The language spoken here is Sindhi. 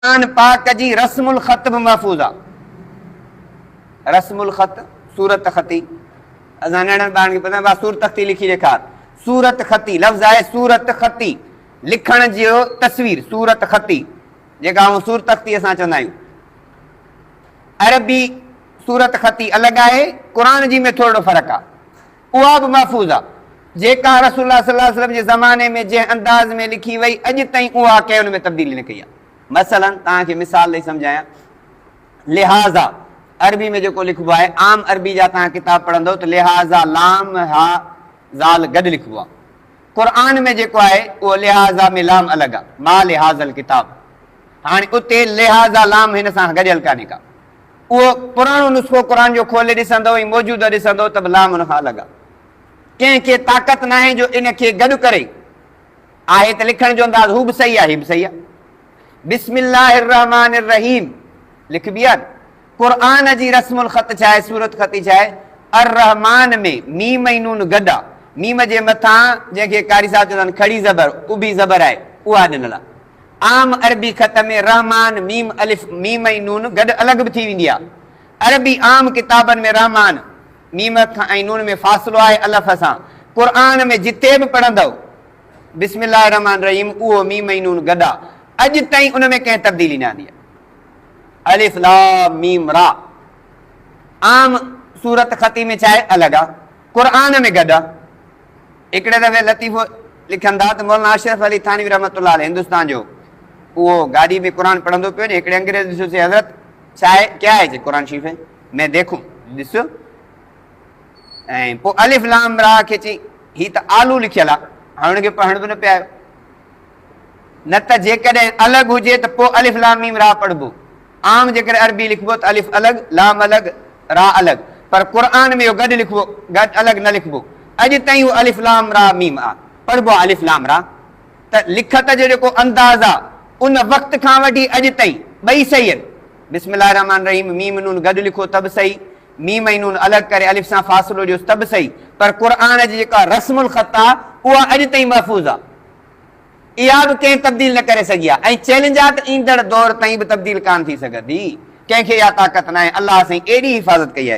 قرآن پاڪ جي رسم الخط به محفوظ آ. رسم الخط، صورت خطي، اسان ننڍڙن ٻارن کي پوڇندا ڀاء صورت خطي لکي ڏيکار. صورت خطي لفظ آهي صورت خطي لکڻ جي تصوير صورت خطي جيڪا آئون صورت خطي اسان چوندا آهيون. عربي صورت خطي الڳ آهي قرآن جي ۾ ٿورڙو فرق آ. اها به محفوظ آ، جيڪا رسول الله صلي الله عليه وسلم جي زماني ۾ جنهن انداز ۾ لکي وئي، اڄ تائين اها ڪنهن ان ۾ تبديلي نه ڪئي آ. مثلا توهان کي مثال ڏئي سمجهايان، لهٰذا عربي ۾ جيڪو لکبو آهي، عام عربي جا توهان ڪتاب پڙهندؤ ته لهٰذا لام هاء ذال گڏ لکبو آ. قرآن ۾ جيڪو آهي، اهو لهٰذا ۾ لام الڳ آ، ما لهٰذا الڪتاب. هاڻي اتي لهٰذا لام هن سان گڏيل ڪانهي ڪا. اهو پراڻو نسخو قرآن جو کولي ڏسندؤ ۽ موجوده ڏسندؤ ته به لام ان کان الڳ آهي. ڪنهن کي طاقت ناهي جو ان کي گڏ ڪري. آهي ته لکڻ جو انداز هو به صحيح آهي هي به صحيح آهي. بسم الله الرحمٰن الرحيم لکبي آهي نه. قرآن جي رسم الخط ڇا آهي، صورت خطي ڇا آهي؟ الرحمٰن ۾ ميم ۽ نون گڏ آهي. ميم جي مٿان جنهن کي قاري صاحب چوندا آهن کڙي زبر، اڀي زبر آهي، اها ڏنل آهي. عام عربي خط ۾ رحمان، ميم الف، ميم ۽ نون گڏ الڳ به ٿي ويندي آهي. عربي عام ڪتابن ۾ رحمان، ميم الف کان ۽ نون ۾ فاصلو آهي الف سان. قرآن ۾ جتي به پڙهندؤ، بسم الله الرحمٰن الرحيم، اهو ميم ۽ نون گڏ آهي. اڄ تائين ان ۾ ڪنهن تبديلي نه آندي آهي. الف لام ميم را عام صورت خطي ۾ ڇا آهي الڳ آهي. قرآن ۾ گڏ آهي. هڪڙي دفعي لطيفو لکن ٿا ته مولانا اشرف علي ٿانوي رحمة الله عليه هندستان جو اهو گاڏي ۾ قرآن پڙهندو پيو وڃي هڪڙي انگريز ڏسيو چي حضرت ڇا هي ڪيا هي چي قرآن شريف هي مين ديکو ڏسيو ۽ پوء الف لام را کي چي هي ته آلو لکيل آ هاڻ ان کي پڙهڻ به نه پيا آيو نه ته جيڪڏهن الڳ هجي ته پوء الف لام ميم را پڙهبو عام جيڪڏهن عربي لکبو ته الف الڳ، لام الڳ، را الڳ پر قرآن ۾ اهو گڏ لکبو، گڏ الڳ نه لکبو. اڄ تائين اهو الف لام را ميم آ پڙهبو آ الف لام را ته لکت جو جيڪو انداز آ ان وقت کان وٺي اڄ تائين ٻئي صحيح آهن. بسم الله الرحمٰن الرحيم ميم نون گڏ لکو ته به صحيح، ميم ۽ نون الڳ ڪري الف سان فاصلو ڏيوس ته به صحيح پر قرآن جي جيڪا رسم الخط آ اها اڄ تائين محفوظ آ. اها به ڪنهن تبديل نه ڪري سگهي آ ۽ چئلينج آ ته ايندڙ دور تائين به تبديل ڪانه ٿي سگهندي ڪنهن کي اها طاقت ناهي الله سائين ايڏي حفاظت ڪئي آهي.